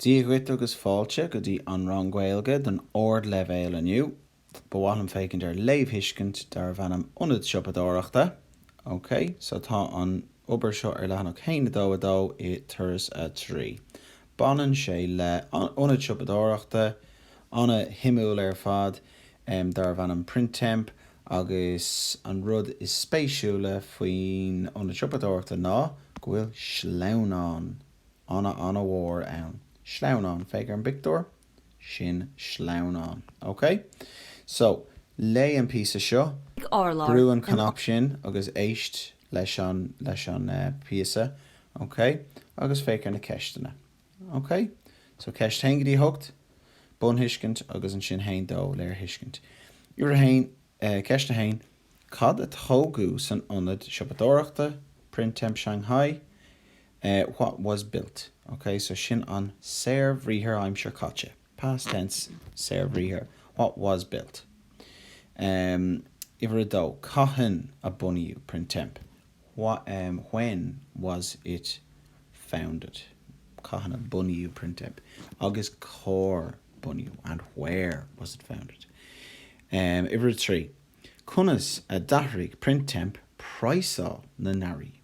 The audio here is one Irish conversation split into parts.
Dia dhuit agus fáilte go dtí An Rang Gaeilge don ardleibhéal inniu. Ba mhaith liom féachaint ar léamhthuiscint darbh ainm Ionad Siopadóireachta. OK, so tá an obair seo ar leathanach 122 i Turas 3. Baineann sé le Ionad Siopadóireachta an-shuimiúil ar fad darbh ainm Printemps agus an rud is spéisiúla faoin Ionad Siopadóireachta ná go bhfuil sleamhnán ana-mhór ann. Sleamhnán, féach ar an bpictiúr, sin sleamhnán. Ok? So, léigh an píosa seo. Brúigh an an cnaipe sin agus éist leis an leis an bpíosa, ok? Agus féach ar na ceisteanna. Ok? So, ceist 1 go dtí 8, bunthuiscint agus ansin 1, 2, léirthuiscint. Uimhir 1 eh ceist 1, Cad a tógadh san ionad siopadóireachta Printemps Shanghai? what was built, ok. So sin an saorbhriathar aimsir chaite, past tense saorbhriathar what was built. Um uimhir a dó, cathain a bunaíodh Printemps? What, um when was it founded? cathain a bunaíodh Printemps agus cár bunaíodh? And where was it founded? Um uimhir a trí, conas a d'athraigh Printemps praghsáil na n-earraí?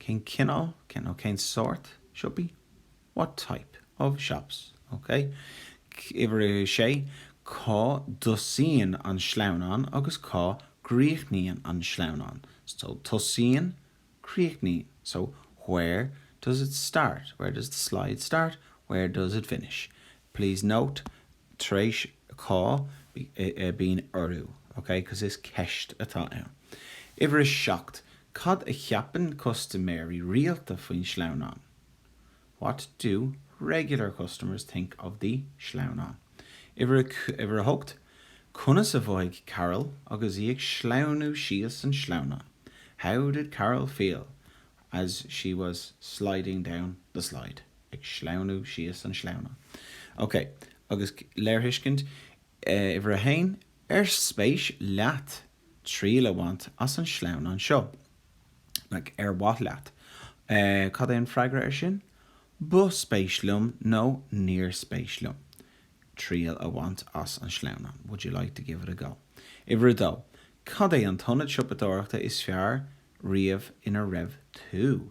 cén cineál, cén cineál cén sórt siopaí? what type of shops? ok Uimhir a sé, cá dtosaíonn an sleamhnán agus cá gcríochnaíonn an sleamhnán? so tosaíonn, críochnaíonn so where does it start, where does the slide start, where does it finish? please note tar éis cá bíonn urú ok cos is ceist atá ann. Uimhir a seacht, Cad a cheapann custaiméirí rialta faoin sleamhnán? What do regular customers think of the sleamhnán? Uimhir a, Uimhir a hocht, Conas a mhothaigh Carol agus í ag sleamhnú síos an sleamhnán? How did Carol feel as she was sliding down the slide? ag sleamhnú síos an sleamhnán. Ok, agus léirthuiscint, Uimhir a haon, Ar spéis leat triail a bhaint as an sleamhnán seo? Like, ar mhaith leat? Eh, cad é an freagra ar sin? Ba spéis liom nó níor spéis liom triail a bhaint as an sleamhnán. Would you like to give it a go? Uimhir a dó, Cad é an t-ionad siopadóireachta is fearr riamh ina raibh tú?